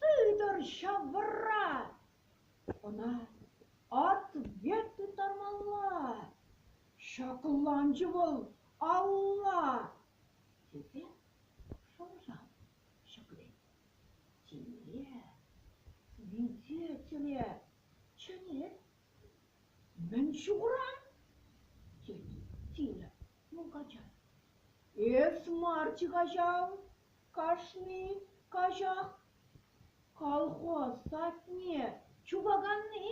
Тытӑр ҫавӑра! Ӑна ответ тыттармалла! Ҫакланчӗ вӑл алла! тесе шӑрҫан ҫӗклет. Тимле, свидетеле чӗнет. Мӗн ҫукуран? тет Тиля мулкача. Эс марччӗ каҫал. Кашни каҫах колхоз садне чупаканни,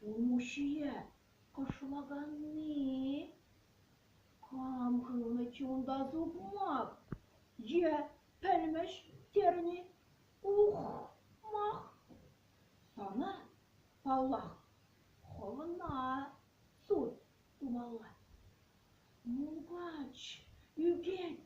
улмуҫҫие кӑшлаканни, кам хывнӑччӗ унта сукмак е пӗлмӗш терни, ух-мах! Сана, паллах, хӑвна суд тумалла. Мулкач ӳкет,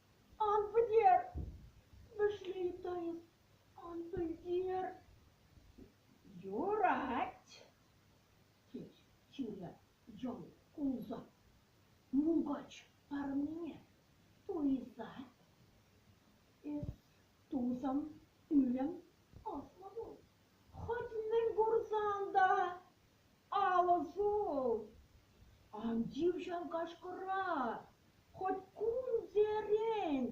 Ан пӗтер! вӗшлетӗн, ан пӗлтер! Юрать! тет Ҫуля йӑл кулса. Мулкач парӑмне туйсат. Эс тусӑм, ӳрӗм, аслӑ пул. Хӑть мӗн курсан та Алӑ ҫул! Ан тив ҫав кашкӑра! Хоть кунсерен!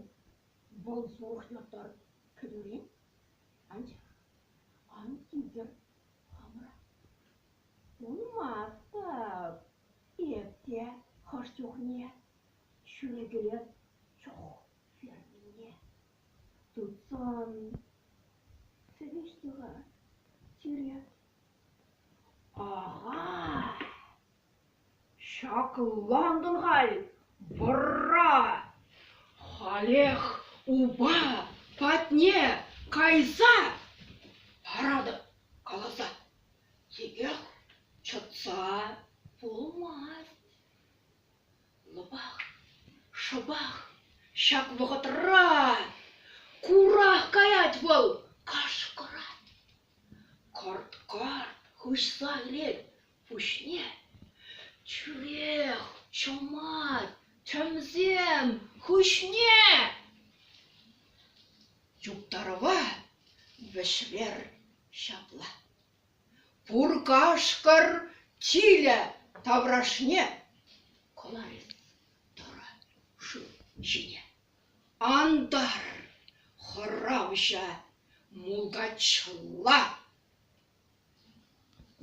Вӑл сурӑх юхтар, кӗтӳрен. Анчах ан титӗр хамӑра. Пулмастӑп эп те хӑш чухне ҫӳрекелет чох фермине. Тытсан сӗвеҫҫӗ-ха сире Ага, ҫаклантӑн халь, вӑрра, халех упа патне кайса паратӑп каласа, текех чӑтса пулмасть. Лӑпах, шӑпах ҫак вӑхӑтра курах каять вӑл кашкӑрать. Карт-карт хыҫса кӗрет, пуҫне тӳрех чӑмать, тӗмсем хыҫне юптарӑва вӗҫвер ҫапла: пур кашкӑр тилӗ таврашне кӑларӗ тӑрӑ шыв ҫине. Антар, хӑравҫа, мулкачла!